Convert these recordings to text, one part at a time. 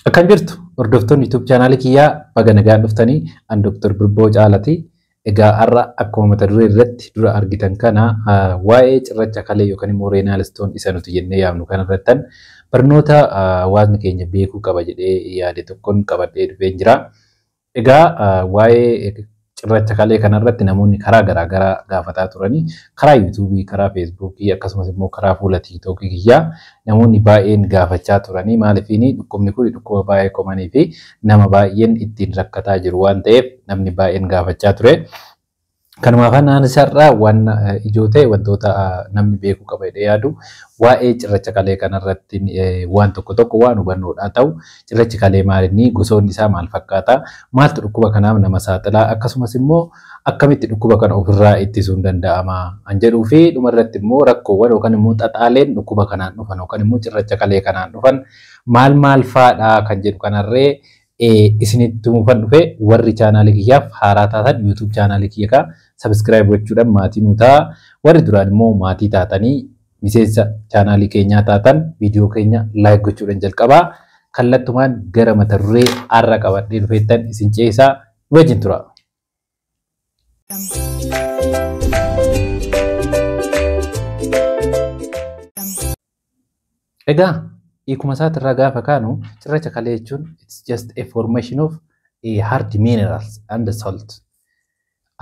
Akkam jirtu hordoftoonni YouTube chaanaalii kiyyaa baga nagaan dhuftanii an Dr. Birboo Caalaati. Egaa har'a akkuma mata duree irratti dura argitan kana ah, waa'ee cirracha kalee yookaan immoo reenaal istoon isa nuti jennee yaamnu kana irrattan barnoota ah, hawaasni keenya beekuu qaba jedhee yaade tokkon qabadhee dhufeen jira. Egaa waa'ee cirracha kalee kana irratti namoonni karaa garaa garaa gaafataa turanii karaa yuutuubii, karaa feesbuukii akkasumas immoo karaa fuula tiiktookii kiyyaa namoonni baay'een gaafachaa turanii maalifiini dhukkubni kun dhukkuba baay'ee komanii fi nama baay'een ittiin rakkataa jiru waan ta'eef namni baay'een gaafachaa ture. Kanumaaf ani sarara waan ijoo ta'e wantoota namni beekuu qaba jedhee yaadu waa'ee cirracha kalee kanarratti waan tokko tokko waan hubannoodhaa ta'u cirrachi kalee maalinni gosoonni isaa maal fakkaata maaltu dhukkuba kanaaf nama saaxilaa akkasumas immoo akkamitti dhukkuba kana ofirraa ittisuun danda'ama an jedhuu fi dhumarratti immoo rakkoowwan yookaan immoo xaxaaleen dhukkuba kanaan dhufan yookaan immoo cirracha kalee kanaan dhufan maal maal faadhaa kan jedhu kanarree isinitti mufan dhufe warri chaanaali kiyyaaf haaraa taatan YouTube chaanaali kiyya kaa subscribe gochuudhaan maatii nuu ta'a warri duraan immoo maatii taatanii miseensa chaanaali keenyaa taatan viidiyoo keenya like gochuudhaan jalqabaa kallattumaan gara mata duree har'a qabadhee dhufeettan isin ceesaa wajjin tura. Egaa hiikuma isaati irraa gaafa kaanu cirracha kalee jechuun it's just a formation of a hard minerals and salt.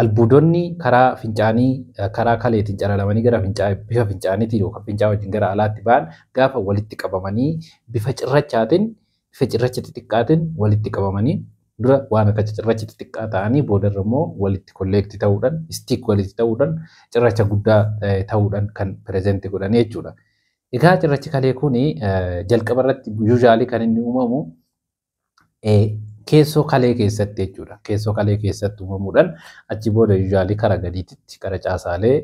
Albuudonni karaa fincaanii karaa kaleetiin calalamanii gara fincaa bifa fincaaniitiin yookaan fincaa wajjin gara alaatti ba'an gaafa walitti qabamanii bifa cirrachaatiin Bifa cirracha xixiqqaatiin walitti qabamanii dura waan akka cicirracha xixiqqaa ta'anii boodarra immoo walitti kolleekti ta'uudhaan stick walitti ta'uudhaan cirracha guddaa ta'uudhaan kan present godhan jechuudha. Egaa cirrachi kalee kun jalqaba irratti usually kan inni uumamu keessoo kalee keessatti jechuudha. Keessoo kalee keessatti uumamuudhaan achi booda usually kara gadiititti kara caasaalee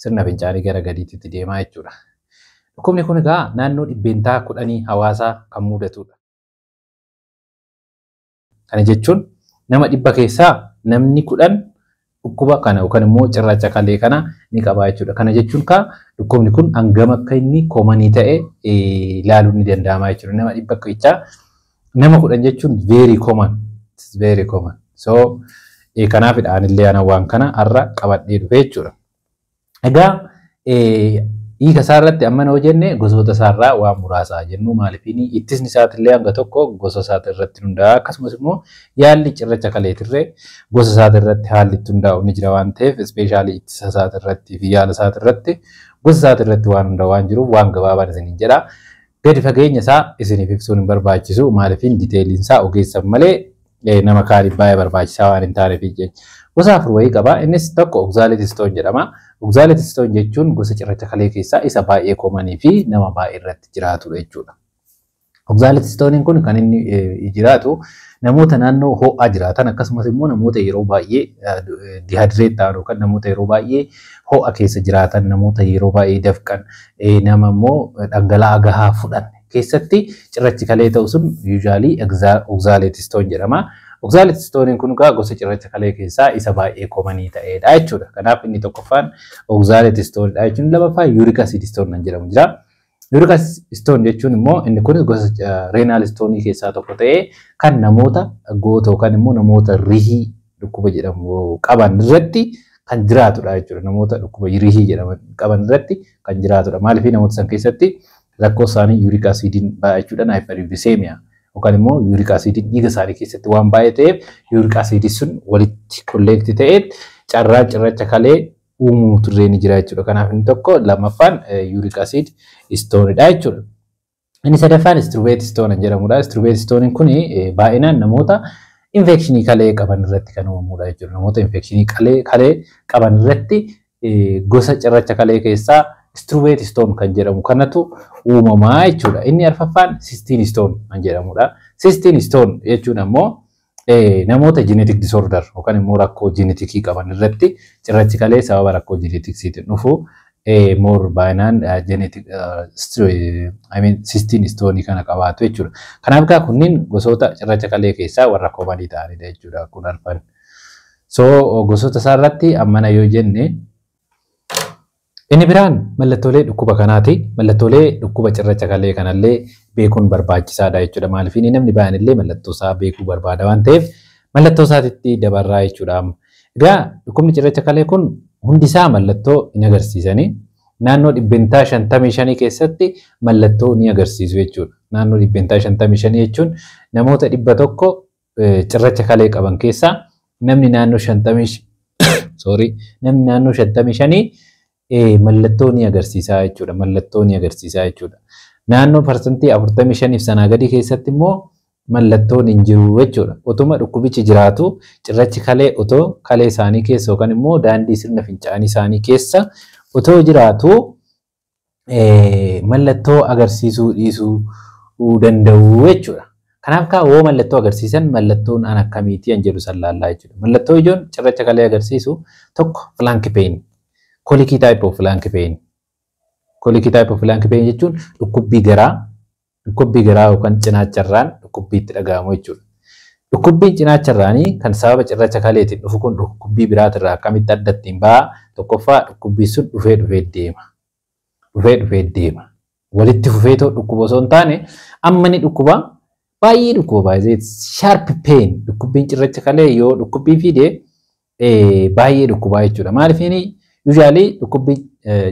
sirna fincaanii gara gadiititti deemaa jechuudha. Dhukkubni kun egaa naannoo dhibbeentaa kudhanii hawaasaa kan muudatudha. Kana jechuun nama dhibba keessaa namni kudhan dhukkuba kana yookaan immoo cirracha kalee kana ni qabaa jechuudha. Kana jechuun kaa dhukkubni kun hangam akka inni komanii ta'e ilaaluun ni danda'ama jechuudha. Nama dhibba keessaa nama kudhan jechuun very common. It's very common. So kanaafidha anillee ana waan kana har'a qabadhee dhufe jechuudha. Egaa hiika isaa irratti ammana yoo jenne gosoota isaa irraa waan muraasa haa jennu maalifiin ittisni isaatillee hanga tokko gosa isaati irratti hundaa'a akkasumas immoo yaalli cirracha kaleetirree gosa isaati irratti haalli itti hundaa'u ni jira waan ta'eef ispeeshaalii ittisa isaati irratti fi yaala isaati irratti gosa isaati irratti waan hundaa'u waan jiruuf waan gabaabaan isiniin jedha. Gadi fageenya isaa isiniif ibsuun hin barbaachisu maalifiin diteeliin isaa ogeessan malee nama kaaniif baay'ee barbaachisaa waan hin taaneef jecha. Gosa afur wayii qaba. Innis tokko oxalate stone jedhama. Oxalate stone jechuun gosa cirracha kalee keessaa isa baay'ee koomanii fi nama baay'ee irratti jiraatudha jechuudha. Oxalate stone kun kan inni jiraatu namoota naannoo ho'aa jiraatan akkasumas immoo namoota yeroo baay'ee dihaadireet ta'an yookaan namoota yeroo baay'ee ho'a keessa jiraatan namoota yeroo baay'ee dafqan nama immoo dhangala'aa gahaa fudhanne keessatti cirrachi kalee ta'u sun usually oxaletistone jedhama. Oxaletistone kun egaa gosa cirracha kalee keessaa isa baay'ee komanii ta'edha jechuudha. Kanaaf inni tokkoffaan oxaletistone dha jechuun lamaffaa uric acidistone kan jedhamu jira. Uric acidistone jechuun immoo inni kun gosa renal stone keessaa tokko ta'ee kan namoota goota yookaan immoo namoota rihii dhukkuba jedhamu qaban irratti kan jiraatudha jechuudha. Namoota dhukkuba rihii jedhaman qaban irratti kan jiraatudha. Maaliif namoota san keessatti Rakkoo isaanii yuuriik asiidiin baay'achuudhaan haayipariiviseemiyaa yookaan immoo yuuriik asiidiin dhiiga isaanii keessatti waan baay'ee ta'eef yuuriik asiidii sun walitti kolleekti ta'ee carraan cirracha kalee uumuu turree ni jira jechuudha. Kanaaf inni tokko lammaffaan yuuriik asiid istoonidha jechuudha. Inni sadaffaan istruveet istoonan jedhamudha. Istruveet istooniin kun baay'inaan namoota infekshinii kalee qaban irratti kan uumamudha jechuudha. Namoota infekshinii kalee qaban irratti gosa cirracha kalee keessaa struvate stone kan jedhamu kanatu uumamaa jechuudha. Inni arfaffaan sistine stone kan jedhamudha. Sistine stone jechuun ammoo namoota genetic disorder yookaan immoo rakkoo genetikii qaban irratti cirrachi kalee sababa rakkoo genetiksiitiin dhufu moor baay'inaan genetic I mean sistine stone kana qabaatu jechuudha. Kanaaf egaa kunniin gosoota cirracha kalee keessaa warra koomanii ta'anidha jechuudha kun arfan. So gosoota isaa irratti ammana yoo jenne inni biraan mallattoolee dhukkuba kanaati. Mallattoolee dhukkuba cirracha kalee kanallee beekuun barbaachisaadha jechuudha. Maaliif inni namni baay'een illee mallattoo isaa beekuu barbaada waan ta'eef mallattoo isaatitti dabarraa jechuudha. Egaa dhukkubni cirracha kalee kun hundi isaa mallattoo hin agarsiisani. Naannoo dhibbentaa shantamii shanii keessatti mallattoo ni agarsiisu jechuudha. Naannoo dhibbentaa shantamii shanii jechuun namoota dhibba tokko cirracha kalee qaban keessaa namni naannoo shantamii sorry namni naannoo shantamii shanii mallattoo ni agarsiisaa jechuudha. Mallattoo ni agarsiisaa jechuudha. Naannoo parsantii afurtamii shaniif sanaa gadii keessatti immoo mallattoon hin jiru jechuudha. Otuma dhukkubichi jiraatu cirrachi kalee otoo kalee isaanii keessa yookaan immoo daandii sirna fincaanii isaanii keessa otoo jiraatu mallattoo agarsiisuu dhiisuu danda'u jechuudha. Kanaaf kaa woo mallattoo agarsiisan mallattoon an akkamiitii an jedhu san laallaa jechuudha. Mallattoo ijoon cirracha kalee agarsiisu tokko flank pain kolikii type of flank pain kolikii type of flank pain jechuun dhukkubbii garaa Dhukkubbii garaa yookaan cinaacha irraan dhukkubbii itti dhaga'amu jechuudha. Dhukkubbiin cinaacha irraanii kan sababa cirracha kaleetiin dhufu kun dhukkubbii biraati irraa akkamitti adda ittiin ba'a? Tokkoffaa dhukkubbiin sun dhufee dhufee deema. Dhufee dhufee deema. Walitti fufee too dhukkuba osoo hin taane amma ni dhukkuba baay'ee dhukkuba baay'ee sharp pain dhukkubbiin cirracha kalee yoo dhukkubbii fide baay'ee dhukkubaa jechuudha. Maaliif inni usually dhukkubbi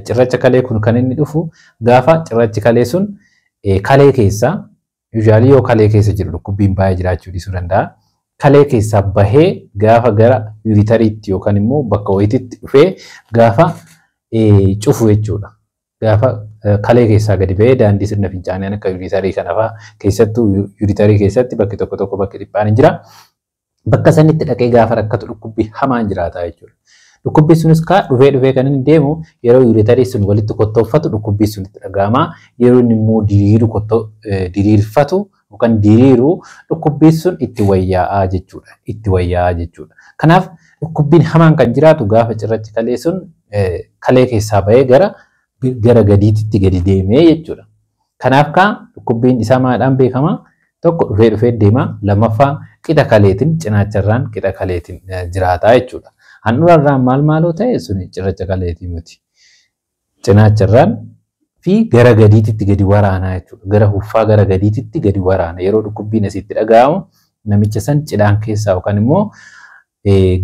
cirracha kalee kun kan inni dhufu gaafa cirrachi kalee sun kalee keessaa usually yoo kalee keessa jiru dhukkubbiin baay'ee jiraachuu dhiisuu danda'a. Kalee keessaa bahee gaafa gara yuritariitti yookaan immoo bakka wayititti dhufee gaafa cufu jechuudha. Gaafa kalee keessaa gadi bahee daandii sirna fincaanii akka yuritarii kanafaa keessattuu yuritarii keessatti bakki tokko tokko bakki dhiphaan hin jira. Bakka sanitti dhaqee gaafa rakkatu dhukkubbii hamaan jiraata jechuudha. Dhukkubbii sunis kaa dhufee dhufee kan inni deemu yeroo yuuritarii sun walitti kottooffatu dhukkubbii sun itti dhaga'ama. Yeroo inni immoo diriiru kottoo diriirfatu yookaan diriiru dhukkubbii sun itti wayyaa'aa jechuudha. Itti wayyaa'aa jechuudha. Kanaaf dhukkubbiin hamaan kan jiraatu gaafa cirrachi kalee sun kalee keessaa bahee gara gara gadiititti gadi deemee jechuudha. Kanaaf kaa dhukkubbiin isaa maadhaan beekama tokko dhufee dhufee deema lammaffaa qixa kaleetiin cinaacharraan qixa kaleetiin jiraataa jechuudha. Handhurarraan maal maaloo ta'e suni cirracha kaleetii miti. Cinaacharraan fi gara gadiititti gadi waraanaa jechuudha. Gara huffaa gara gadiititti gadi waraana yeroo dhukkubbiin asitti dhaga'amu namicha san cidhaan keessaa yookaan immoo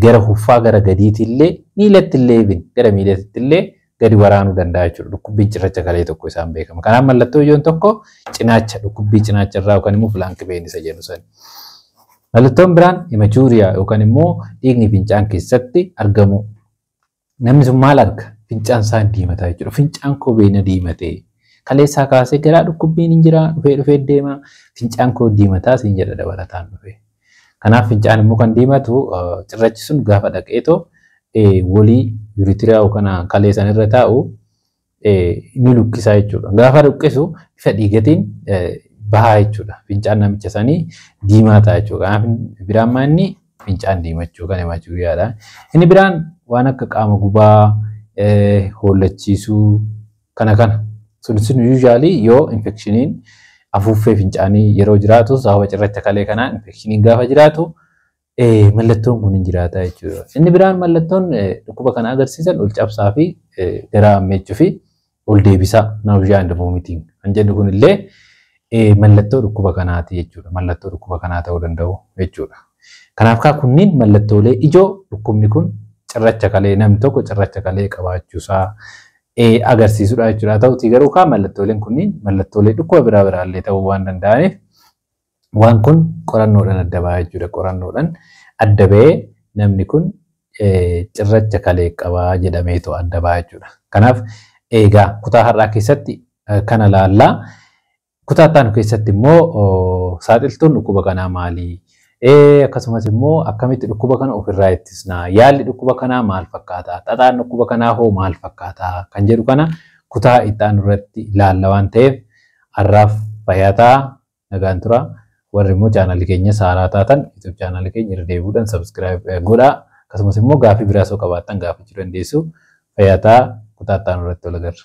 gara huffaa gara gadiitii illee miilatti illee even gara miilatti illee gadi waraanuu danda'a jechuudha. Dhukkubbiin cirracha kalee tokko isaan beekama. Kanaaf mallattoo ijoon tokko cinaacha dhukkubbii cinaacha irraa yookaan immoo filaanki been isa jennu sani. Mallattoon biraan hemachuuriyaa yookaan immoo dhiigni fincaan keessatti argamuu. Namni sun maal arga? Fincaan isaa hin diimataa jechuudha. Fincaan koo bee na diimatee. Kaleessaa kaasee garaa dhukkubbiin hin jiraa dhufee dhufee deema. Fincaan koo diimataa siin jedha dabalataan dhufee. Kanaaf fincaan immoo kan diimatu cirrachi sun gaafa dhaqeetoo wolii yuritiriyaa kana kalee san irra taa'u ni lukkisaa jechuudha. Gaafa lukkisu bifa dhiigatiin bahaa jechuudha. Fincaan namicha sanii diimaa ta'a jechuudha. Kanaaf biraan maa inni fincaan diimachuu kan himaa jiru yaada. Inni biraan waan akka qaama gubaa, hoollachiisuu kana kana. Sun sun yuuzhaalii yoo infekshiniin afuuffee fincaanii yeroo jiraatu sababa cirracha kalee kanaa infekshiniin gaafa jiraatu Eh, mallattoon kun hin jiraata jechuudha. Inni biraan mallattoon eh, dhukkuba kana agarsiisan ol cabsaa fi eh, garaa ammeechuu fi ol deebisaa nausea and vomiting kan jedhu kun illee eh, mallattoo dhukkuba kanaati jechuudha. Mallattoo dhukkuba kanaa ta'uu danda'u jechuudha. Kanaaf kaa kunniin mallattoolee ijoo dhukkubni kun cirracha kalee namni tokko cirracha kalee qabaachuusaa eh, agarsiisudha jechuudha. Haa ta'utii garuu kaa mallattooleen kunniin mallattoolee dhukkuba biraa biraallee ta'uu waan danda'aniif Waan kun qorannoodhan adda ba'a jechuudha. Qorannoodhan adda ba'ee namni kun cirracha kalee qaba jedhameetu adda ba'a jechuudha. Kanaaf eegaa kutaa har'aa keessatti kana laallaa. Kutaa ittaanu keessatti immoo saaxiltuun dhukkuba kanaa maali? Akkasumas immoo akkamitti dhukkuba kana ofirraa ittisna? Yaalli dhukkuba kanaa maal fakkaata? Xaxaan dhukkuba kanaa hoo maal fakkaata? Kan jedhu kana kutaa ittaanu irratti laalla waan ta'eef har'aaf fayyaa ta'aa. Nagaan tura. Warri immoo chaanalii keenya saaraa taatan YouTube chaanalii keenya irra deebi'uudhaan subscribe godhaa. Akkasumas immoo gaaffii biraas yoo qabaattan gaafachuu dandeessu. Fayyaa ta'aa kutaa itti aanu irratti wal agarra.